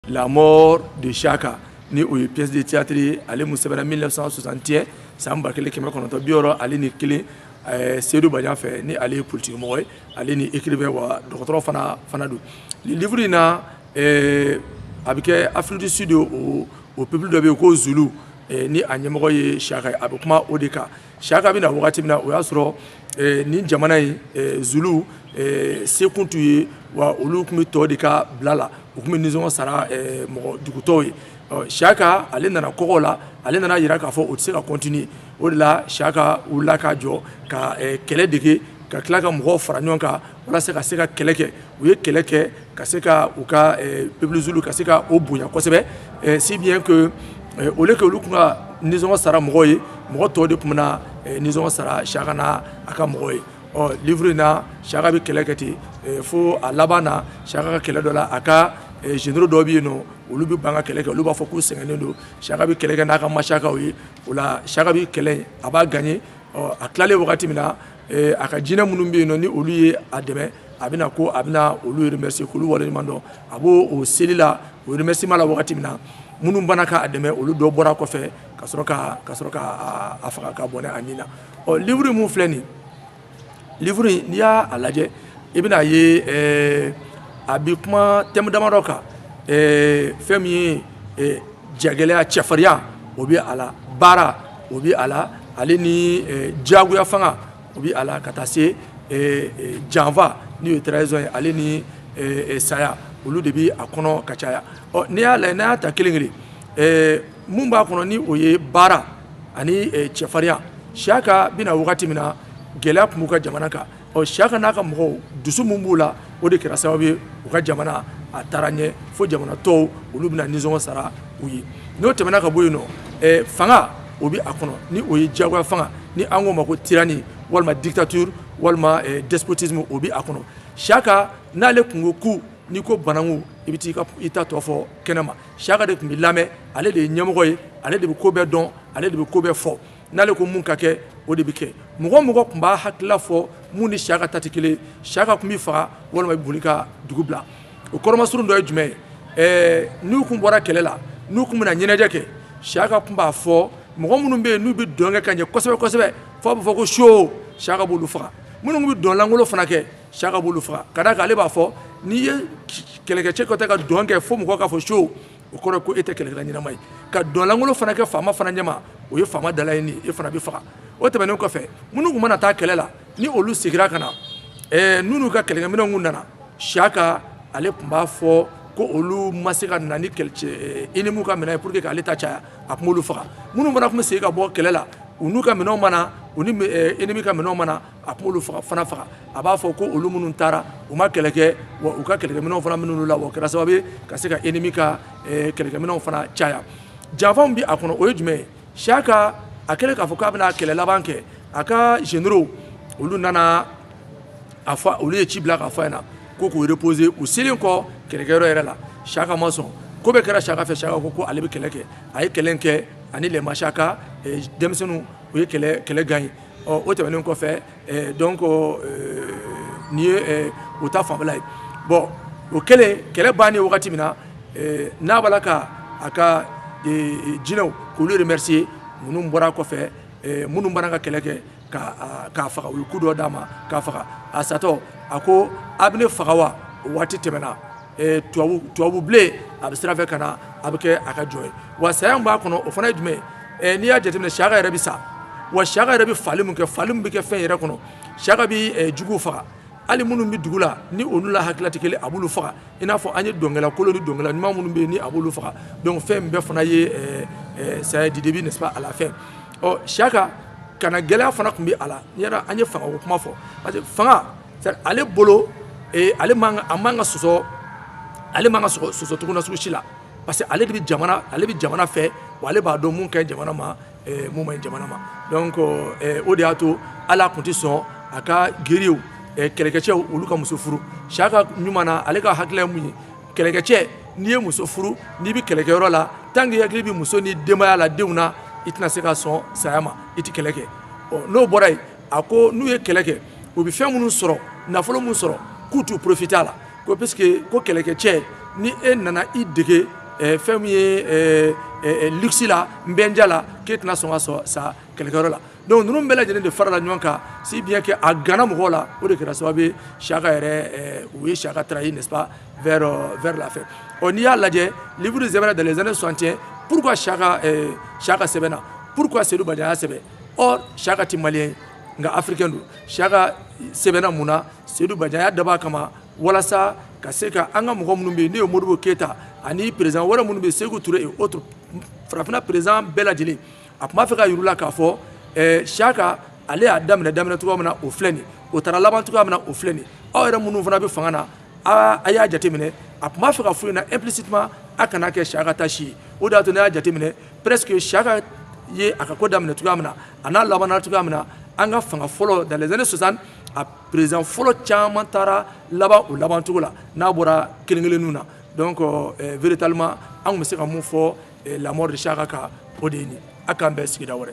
La mort de Chaka ni o ye pièce de théâtre ye ale mun sɛbɛnna 1961 san ba kelen kɛmɛ kɔnɔntɔn bi wɔɔrɔ ale ni kelen eh, Seydou Badian fɛ ni ale ye politikimɔgɔ ye ale ni écrivain wa dɔgɔtɔrɔ fana fana don nin livre in na eh, a bɛ kɛ Afrique du Sud o o peuple dɔ bɛ yen ko Zulu eh, ni a ɲɛmɔgɔ ye Chaka ye a bɛ kuma o de kan Chaka bɛ na wagati min na o y'a sɔrɔ nin jamana in Zulu sekun tun ye wa olu tun bɛ tɔw de ka bila la u tun bɛ nisɔngɔ sara mɔgɔ dugu tɔw ye Chaka ale nana kɔgɔla ale nana yira k'a fɔ o tɛ se ka continuer o de la Chaka wulila ka jɔ ka kɛlɛ dege ka tila ka mɔgɔw fara ɲɔgɔn kan walasa ka se ka kɛlɛ kɛ u ye kɛlɛ kɛ ka se ka u ka eh, peuple Zulu ka se ka o bonya kosɛbɛ eh, si bien que eh, au lieu que olu tun ka nisɔngɔ sara mɔgɔw ye mɔgɔ tɔw de tun bɛna nisɔngɔ sara Chaka n'a ka mɔgɔw ye ɔ livre in na Chaka bɛ kɛlɛ kɛ ten fo a laban na Chaka ka kɛlɛ dɔ la a ka généraux dɔw bɛ yen nɔ olu bɛ ban ka kɛlɛ kɛ olu b'a fɔ k'u sɛgɛnnen don Chaka bɛ kɛlɛ kɛ n'a ka machakaw ye o la Chaka bɛ kɛlɛ a b'a gagner ɔ a tilalen wagati min na a ka jinɛ minnu bɛ yen nɔ ni olu ye a dɛmɛ a bɛna ko a bɛna olu remercier k'olu waleɲuman dɔn a b'o o seli la o remerciement la wagati min na minnu banna k'a dɛmɛ olu dɔ bɔra kɔfɛ ka sɔrɔ ka ka sɔrɔ ka a faga ka bɔnɛ a ni na ɔ livre min filɛ nin livre n'i y'a a lajɛ i bɛna a ye ɛɛ a bi kuma thème damadɔ kan ɛɛ fɛn min ye jagɛlɛya cɛfarinya o bɛ a la baara o bɛ a la ale ni diyagoya fanga o bɛ a la ka taa se janfa n'o ye trahison ye ale ni saya olu de bɛ a kɔnɔ ka caya ɔ n'i y'a la n'a y'a ta kelen kelen min b'a kɔnɔ ni o ye baara ani cɛfarinya Chaka bɛ na wagati min na gɛlɛya tun b'u ka jamana kan ɔ Chaka n'a ka mɔgɔw dusu min b'u la o de kɛra sababu ye u ka jamana a taara ɲɛ fo jamana tɔw olu bɛna nisɔngɔ sara u ye n'o tɛmɛna ka bɔ yen nɔ fanga o bɛ a kɔnɔ ni o ye diyagoya fanga ni an k'o ma ko tyrannie walima dictature walima despotisme o bɛ a kɔnɔ Chaka n'ale tun ko ku n'i ko bananku i bɛ taa i ta tɔ fɔ kɛnɛma Chaka de tun bɛ lamɛn ale de ye ɲɛmɔgɔ ye ale de bɛ ko bɛɛ dɔn ale de bɛ ko bɛɛ fɔ n'ale ko mun ka kɛ o de bɛ kɛ mɔgɔ mɔgɔ tun b'a hakilila fɔ mun ni Chaka ta tɛ kelen Chaka tun b'i faga walima i bɛ boli ka dugu bila o kɔrɔmasurun dɔ ye jumɛn ye ɛɛ n'u tun bɔra kɛlɛ la n'u tun bɛna ɲɛnajɛ kɛ Chaka tun b'a fɔ mɔgɔ minnu bɛ yen n'u bɛ dɔn kɛ ka ɲɛ kosɛbɛ kosɛbɛ f'a bɛ fɔ ko so Chaka b'olu faga minnu bɛ dɔn lankolon fana kɛ Chaka b'olu faga ka d'a kan ale b'a fɔ n'i ye kɛlɛkɛcɛ kɛtɔ ka dɔn kɛ fo mɔgɔ k'a fɔ so o kɔrɔ ko e tɛ kɛlɛkɛla ɲɛnama ye ka dɔn lankolon fana kɛ faama fana ɲɛma o ye faama dala ye ni e fana bɛ faga o tɛmɛnen kɔfɛ minnu tun mana taa kɛlɛ la ni olu segira ka na ɛɛ n'u ka kɛlɛkɛminɛnw kun nana Chaka ale tun b'a fɔ ko olu ma se ka na ni ennemi ka minɛn ye pour que k'ale ta caya a tun b'olu faga minnu fana tun bɛ segin ka bɔ kɛlɛ la u n'u ka minɛnw ma na u ni ennemi ka minɛnw ma na a b'olu faga fana faga a b'a fɔ ko olu minnu taara u ma kɛlɛ kɛ wa u ka kɛlɛkɛminɛnw fana minɛna u la o kɛra sababu ye ka se ka ennemi ka eh, kɛlɛkɛminɛnw fana caya janfa min bɛ a kɔnɔ o ye jumɛn ye Chaka a kɛlen k'a fɔ k'a bɛna kɛlɛ laban kɛ a ka généraux olu nana a fɔ olu ye ci bila k'a fɔ a ɲɛna ko k'u reposer u selen kɔ kɛlɛkɛyɔrɔ yɛrɛ la Chaka ma sɔn ko bɛɛ kɛra Chaka fɛ Chaka ko ko ale bɛ kɛlɛ kɛ a ye kɛlɛ kɛ ani les Machaka eh, denmisɛnninw u ye kɛlɛ gagner ɔ o tɛmɛnen kɔfɛ ɛɛ donc ɛɛ nin ye ɛɛ o ta fanfɛla ye bɔn o kɛlen kɛlɛ bannen wagati min na ɛɛ n'a b'a la ka a ka ee jinɛw k'olu remercier minnu bɔra kɔfɛ ɛɛ minnu banna ka kɛlɛ kɛ ka k'a faga u ye coup dɔ d'a ma k'a faga a satɔ a ko a bɛ ne faga wa o waati tɛmɛna ɛɛ tubabu tubabu bilen a bɛ sira fɛ ka na a bɛ kɛ a ka jɔn ye wa saya min b'a kɔnɔ o fana ye jumɛn ye ɛ n'i y'a jateminɛ Chaka yɛrɛ bɛ sa wa Chaka yɛrɛ bɛ fagali min kɛ fagali min bɛ kɛ fɛn yɛrɛ kɔnɔ Chaka bɛ ɛ juguw faga hali minnu bɛ dugu la ni olu la hakilila tɛ kelen a b'olu faga i n'a fɔ an ye dɔnkɛla kolon ni dɔnkɛla ɲuman minnu bɛ yen ni a b'olu faga donc fɛn in bɛɛ fana ye ɛ ɛ saya du début n'est-ce pas à la fin ɔ Chaka kannagɛlɛya fana tun bɛ a la n'i yɛrɛ an ye fangako kuma fɔ parce que fanga c'est-à-dire ale bolo ee ale man ka a man ka sɔsɔ ale man ka sɔsɔ sɔsɔcogoya sugu si la parce que ale de bɛ jamana ale bɛ jamana fɛ wa ale b'a dɔn mun ka ɲi jamana ma eh, mun man ɲi jamana ma donc eh, o de y'a to ale tun tɛ sɔn a ka guerriers eh, kɛlɛkɛcɛw olu ka muso furu Chaka ɲuman na ale ka hakilila ye mun ye kɛlɛkɛcɛ n'i ye muso furu n'i bɛ kɛlɛkɛyɔrɔ la tant que i hakili bɛ muso ni denbaya la denw na i tɛna se ka sɔn saya ma i tɛ kɛlɛ kɛ ɔ n'o bɔra yen a ko n'u ye kɛlɛ kɛ u bɛ fɛn minnu sɔrɔ nafolo minnu sɔrɔ k'u t'u profiter a la ko puisque ko kɛlɛkɛcɛ ni e nana i dege eh, fɛn min ye eh, eh, eh luxe la nbɛnja la k'e tɛna sɔn ka sɔn sa kɛlɛkɛyɔrɔ la donc ninnu bɛɛ lajɛlen de farala ɲɔgɔn kan si bien que a ganna mɔgɔw la o de kɛra sababu ye Chaka yɛrɛ eh, u ye Chaka trahi n'est ce pas vers, euh, vers la fin ɔ n'i y'a lajɛ livre de sɛbɛnna dans les années 61 pourquoi Chaka eh, Chaka sɛbɛnna pourquoi Seydou Badian y'a sɛbɛn or Chaka tɛ malien ye nka africain don Chaka sɛbɛnna mun na seyidu bajan y'a dabɔ a kama walasa ka se ka an ka mɔgɔ minnu bɛ yen n'o ye modibo keyita ani perezidan wɛrɛ minnu bɛ yen seku ture et autres farafinna perezidan bɛɛ lajɛlen a tun b'a fɛ ka yir'u la k'a fɔ ɛɛ siyaka ale y'a daminɛ daminɛ cogoya min na o filɛ nin o taara laban cogoya min na o filɛ nin aw yɛrɛ minnu fana bɛ fanga na a a y'a jateminɛ a tun b'a fɛ ka f'u ɲɛna implicitement a kana kɛ siyaka ta si ye o de y'a to ne y'a jateminɛ presque siyaka ye a ka ko daminɛ cogoya min na a n'a labanna cogoya min na an ka fanga fɔlɔ dans les années 60 a perezidan fɔlɔ caman taara laban o laban cogo la n'a bɔra kelen kelenninw na donc eh, véritablement an tun bɛ se ka mun fɔ eh, la mort de Shaka kan o de ye nin a k'an bɛn sigida wɛrɛ